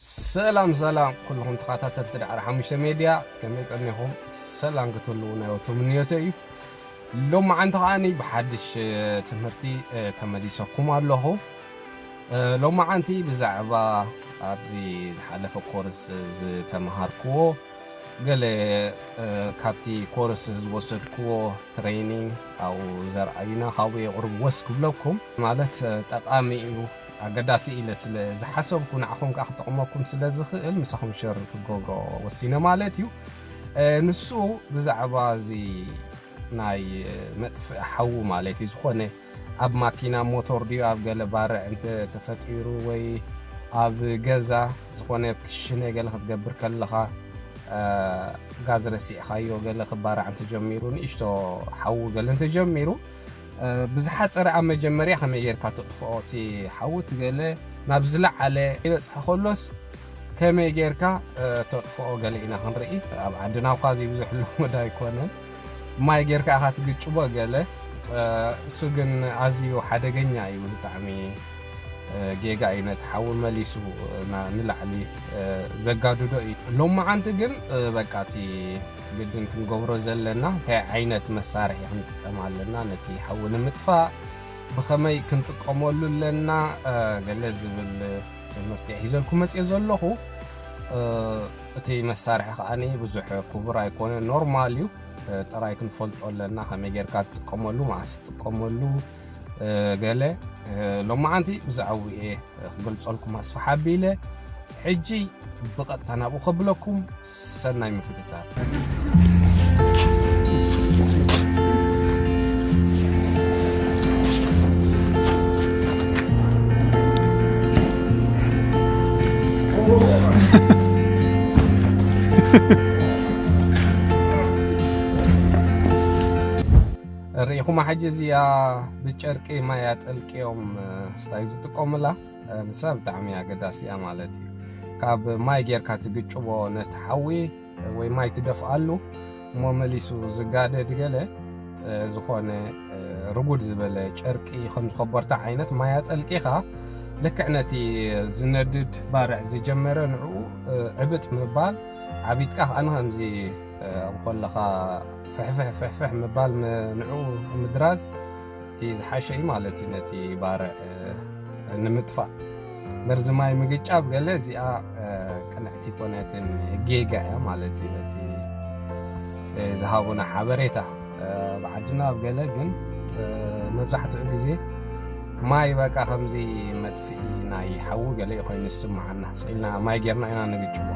ሰላም ሰላም ኩሉኹም ተኻታተልቲ ዳዕሮ ሓሙሽተ ሜድያ ከመይ ቀኒኹም ሰላም ክትህልዉ ናይ ወትሩ ምንዮተይ እዩ ሎማዓንቲ ከዓኒ ብሓድሽ ትምህርቲ ተመሊሰኩም ኣለኹ ሎማዓንቲ ብዛዕባ ኣብዚ ዝሓለፈ ኮርስ ዝተምሃርክዎ ገለ ካብቲ ኮርስ ዝወሰድክዎ ትሬይኒንግ ኣብኡ ዘርኣዩና ካብኡ የቕርብዎስ ክብለኩም ማለት ጠቓሚ እዩ ኣገዳሲ ኢለ ስለ ዝሓሰብኩ ንዓኹም ከኣ ክጠቕመኩም ስለ ዝኽእል ምሳኹም ሸር ክገብሮ ወሲነ ማለት እዩ ንሱ ብዛዕባ እዚ ናይ መጥፍእ ሓዊ ማለት እዩ ዝኾነ ኣብ ማኪና ሞቶር ድዩ ኣብ ገለ ባርዕ እንተ ተፈጢሩ ወይ ኣብ ገዛ ዝኾነ ክሽነ ገለ ክትገብር ከለኻ ጋዝ ረሲዕኻዮ ገለ ክባራዕ እንተጀሚሩ ንእሽቶ ሓዊ ገለ እንተጀሚሩ ብዝሓጸረ ኣብ መጀመርያ ከመይ ጌርካ ተጥፍኦ እቲ ሓዊ እቲ ገለ ናብ ዝለዓለ ይበጽሐ ከሎስ ከመይ ጌርካ ተጥፍኦ ገለ ኢና ክንርኢ ኣብ ዓድና እኳ ዘይብዙሕ ልሙድ ኣይኮነን ማይ ጌርካ ኢኻ ትግጭቦ ገለ እሱ ግን ኣዝዩ ሓደገኛ እዩ ብጣዕሚ ጌጋ እዩ ነቲ ሓዊ መሊሱ ንላዕሊ ዘጋድዶ እዩ ሎመዓንቲ ግን በቃ እቲ ግድን ክንገብሮ ዘለና እንታይ ዓይነት መሳርሒ ክንጥቀም ኣለና፣ ነቲ ሓዊ ንምጥፋእ ብኸመይ ክንጥቀመሉ ኣለና ገለ ዝብል ትምህርቲ ሒዘልኩም መፅኦ ዘለኹ። እቲ መሳርሒ ከዓ ብዙሕ ክቡር ኣይኮነ ኖርማል እዩ። ጥራይ ክንፈልጦ ኣለና ከመይ ጌርካ ትጥቀመሉ መዓስ ትጥቀመሉ ገለ ሎማዓንቲ ብዛዕባ እየ ክገልፀልኩም ኣስፋሓ ኣቢለ ሕጂ ብቐጥታ ናብኡ ከብለኩም ሰናይ ምክትታል። ሪኢኹማ ሕጂ እዚኣ ብጨርቂ ማይ ኣጠልቅዮም ስታይ ዝጥቀሙላ ንሳ ብጣዕሚ ኣገዳሲ እያ ማለት እዩ ካብ ማይ ጌርካ ትግጭቦ ነቲ ሓዊ ወይ ማይ ትደፍኣሉ እሞ መሊሱ ዝጋደድ ገለ ዝኾነ ርጉድ ዝበለ ጨርቂ ከም ዝኾበርታ ዓይነት ማይ ኣጠልቂኻ ልክዕ ነቲ ዝነድድ ባርዕ ዝጀመረ ንዕኡ ዕብጥ ምባል ዓቢጥካ ከዓ ንከምዚ ኣብ ኮለኻ ፍሕፍሕ ፍሕፍሕ ምባል ንዕኡ ምድራዝ እቲ ዝሓሸ እዩ ማለት እዩ ነቲ ባርዕ ንምጥፋእ መርዚ ማይ ምግጫብ ገለ እዚኣ ቅንዕቲ ኮነትን ጌጋ እያ ማለት እዩ ነቲ ዝሃቡና ሓበሬታ ብዓድና ኣብ ገለ ግን መብዛሕትኡ ግዜ ማይ በቃ ከምዚ ናይ ሓዊ ገለ እዩ ኮይኑ ዝስምዓና ስኢልና ማይ ጌርና ኢና ንግጭቦ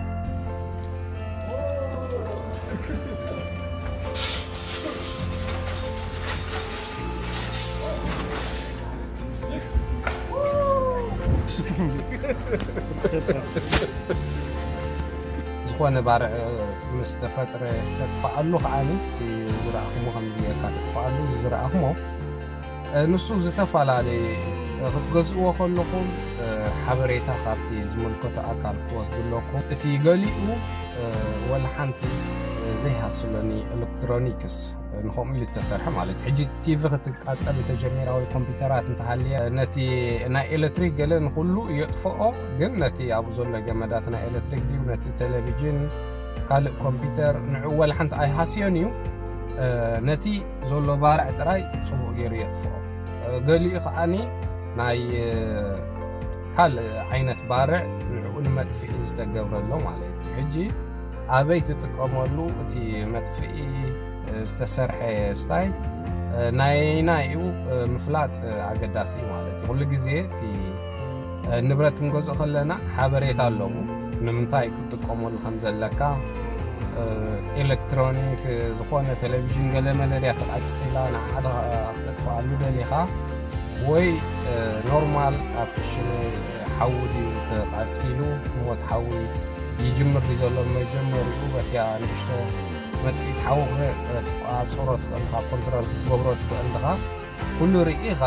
ዝኾነ ባርዕ ምስ ተፈጥረ ተጥፍኣሉ ከዓኒ ዝረኣኹሞ ከምዚ ጌርካ ተጥፍኣሉ ዝረኣኹሞ ንሱ ዝተፈላለየ ክትገዝእዎ ከለኹም ሓበሬታ ካብቲ ዝምልከቶ ኣካል ክትወስዱ ኣለኩም። እቲ ገሊኡ ወላ ሓንቲ ዘይሃስሎኒ ኤሌክትሮኒክስ ንከምኡ ኢሉ ዝተሰርሐ ማለት እዩ ሕጂ ቲቪ ክትቃፀል እንተጀሚራ ወይ ኮምፒውተራት እንተሃልየ ነቲ ናይ ኤሌክትሪክ ገለ ንኩሉ የጥፍኦ ግን ነቲ ኣብ ዘሎ ገመዳት ናይ ኤሌክትሪክ ድዩ ነቲ ቴሌቪዥን ካልእ ኮምፒውተር ንዕኡ ወላ ሓንቲ ኣይሃስዮን እዩ ነቲ ዘሎ ባርዕ ጥራይ ጽቡቕ ገይሩ የጥፍኦ ገሊኡ ከዓኒ ናይ ካልእ ዓይነት ባርዕ ንዕኡ ንመጥፍኢ ዝተገብረሎ ማለት እዩ ሕጂ ኣበይ ትጥቀመሉ እቲ መጥፍኢ ዝተሰርሐ ስታይ ናይና እዩ ምፍላጥ ኣገዳሲ ማለት እዩ ኩሉ ግዜ እቲ ንብረት ክንገዝኦ ከለና ሓበሬታ ኣለዎ ንምንታይ ክትጥቀመሉ ከም ዘለካ ኤሌክትሮኒክ ዝኾነ ቴሌቪዥን ገለመለ ድያ ተቓፂላ ንዓኻ ክተጥፍኣሉ ደሊኻ ወይ ኖርማል ኣብ ክሽነ ሓዊ ድዩ ተቓፂሉ ሞት ሓዊ ይጅምር ድዩ ዘሎ መጀመሪኡ በቲያ ንእሽቶ መጥፊት ሓዊ ክትቋፅሮ ትኽእል ኢኻ ኮንትሮል ክትገብሮ ትኽእል ኢኻ ኩሉ ርኢኻ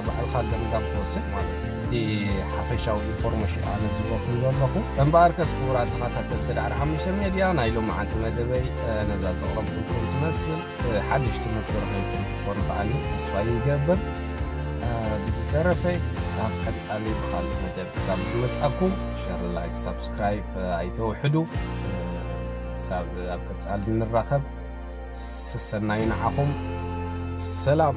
ባዕልኻ ገምጋም ትወስድ ማለት እዩ። እቲ ሓፈሻዊ ኢንፎርሜሽን ኣነ ዝህበኩም ዘለኹ እምበኣርከስ ክቡራት ተኸታተልቲ ዳዕሮ ሓሙሽተ ሜድያ ናይ ሎመዓንቲ መደበይ ነዛ ዘቕረብኩልኩም ትመስል ሓድሽ ትምህርቲ ረኺብኩም ክትኮኑ ከዓኒ ተስፋ ይገብር ብዝተረፈ ኣብ ቀጻሊ ብካልእ መደብ ክሳብ ዝመጻኩም ሸር ላይክ ሳብስክራይብ ኣይተውሕዱ ክሳብ ኣብ ቀጻሊ ንራኸብ ሰሰናዩ ንዓኹም ሰላም።